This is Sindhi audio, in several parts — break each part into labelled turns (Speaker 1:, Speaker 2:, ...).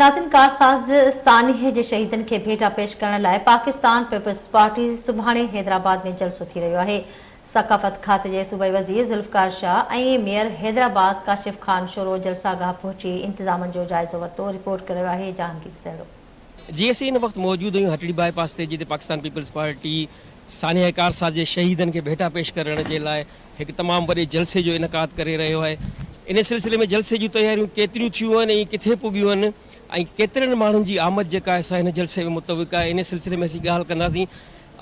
Speaker 1: ناظرين ڪارساز سانحي جي شهيدن کي ڀيٽا پيش ڪرڻ لاء پاڪستان پيپلز پارٽي سڀاڻي حيدرآباد ۾ جلسو ٿي رهيو آهي ثقافت کاتي جي صوبائي وزير ذوالفقار شاهه ۽ ميئر حيدرآباد ڪاشف خان شورو جلساگاهه پهچي انتظامن جو جائزو ورتو رپورٽ ڪريو آهي جهانگير سهڻو. جي اسين ان
Speaker 2: وقت موجود آهيون هٽڙي باء پاس تي جتي پاڪستان پيپلز پارٽي سانحي ڪارساز جي شهيدن کي ڀيٽا پيش ڪرڻ جي لاء هڪ تمام وڏي جلسي جو انعقاد ڪري رهيو آهي ان سلسلي ۾ جلسي جون تياريون ڪيتريون ٿيون آهن ۽ ڪٿي پڳيون آهن ۽ ڪيترن ماڻهن جي آمد جيڪا آهي سا هن جلسي ۾ متوقع آهي ان سلسلي ۾ اسين ڳالهه ڪنداسين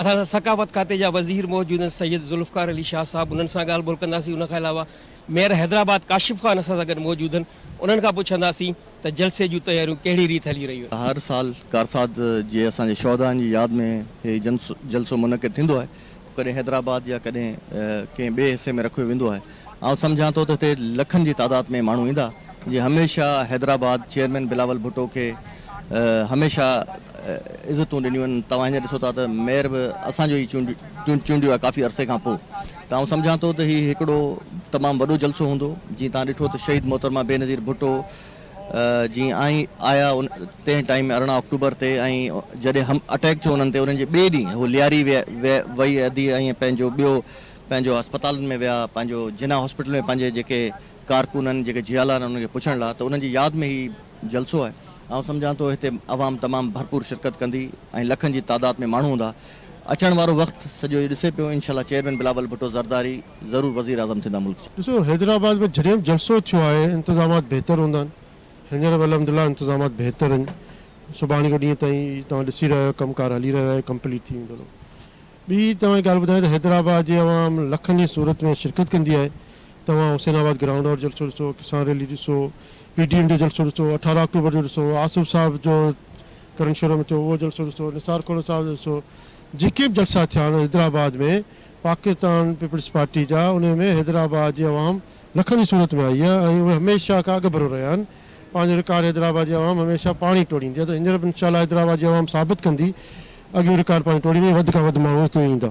Speaker 2: اسان سان ثقافت کاتي جا وزير موجود آهن سيد ذوالفقار علي شاهه صاحب انهن سان ڳالهه ٻولهه ڪنداسين ان کان علاوه ميئر حيدرآباد ڪاشف خان اسان سان گڏ موجود آهن انهن کان پڇنداسين ته جلسي جون تياريون ڪهڙي ريت هلي رهيون آهن. هر سال ڪارساز
Speaker 3: جي اسان جي شهدائن جي ياد ۾ هي جلسو منعقد ٿيندو آهي. ڪڏهن حيدرآباد يا ڪڏهن ڪنهن ٻئي حصي ۾ رکيو ويندو آهي. آئون سمجهان ٿو ته هتي لکن جي تعداد ۾ ماڻهو ايندا جي هميشه حيدرآباد چيئرمين بلاول ڀٽو کي هميشه عزتون ڏنيون آهن. توهان هينئر ڏسو ٿا ته ميئر به اسان جو ئي چونڊيو آهي ڪافي عرصي کان پو ته آئون سمجهان ٿو ته هي هڪڙو تمام وڏو جلسو هوندو. جيئن توهان ڏٺو ته شهيد محترمه بينظير ڀٽو، جيئن آئين آيا تنهن ٽائيم ۾ ارڙهن آڪٽوبر تي ۽ جڏهن هم اٽيڪ ٿيو انهن تي انهن جي ٻئي ڏينهن هو لياري ويئي ادي ۽ پنهنجو ٻيو پنهنجو اسپتالن ۾ ويا پنهنجو جناح هاسپيٽل ۾ پنهنجي جيڪي ڪارڪن آهن جيڪي جهيالا آهن انهن کي پڇڻ لاء ته انهن جي ياد ۾ هي جلسو آهي آئون سمجهان ٿو هتي عوام تمام ڀرپور شرڪت ڪندي ۽ لکن جي تعداد ۾ ماڻهو هوندا اچڻ وارو وقت سڄو اهي ڏسي پيو انشاء الله چيئرمين بلاول ڀٽو زرداري ضرور وزيراعظم ٿيندا ملڪ جا. ڏسو حيدرآباد ۾
Speaker 4: جڏھن جلسو ٿيو آھي انتظامات بھتر ھوندا آھن ھينئر به الحمد لله انتظامات بھتر اھن سڀاڻي کان ڏينهن تائين توھان ڏسي رھيا آھيو ڪم ڪار ھلي رھيو آھي ڪمپليٽ ٿي ويندو ھلو ٻي توھان کي ڳالھ ٻڌايان ته حيدرآباد جي عوام لکن جي صورت ۾ شرڪت ڪندي آھي توھان حسين آباد گرائونڊ وارو جلسو ڏسو ڪسان ريلي ڏسو پي ڊي ايم جو جلسو ڏسو اٺارهن آڪٽوبر جو ڏسو آصف صاحب جو ڪرنشورو ۾ ٿيو اھو جلسو ڏسو نثار کھوڙو صاحب جو ڏسو جيڪي به جلسا ٿيا آھن حيدرآباد ۾ پاڪستان پيپلز پارٽي جا انهي ۾ حيدرآباد جي عوام لکن جي صورت ۾ آئي آهي ۽ اهي هميشه کان اڳڀرو رهيا آهن پنهنجو رڪارڊ حيدرآباد جي عوام هميشه پاڻهي ٽوڙيندي آهي ته هينئر به انشاء الله حيدرآباد جي عوام ثابت ڪندي اڳيون رڪارڊ پنهنجو ٽوڙيندي ۽ وڌ کان وڌ ماڻهو هتي ايندا.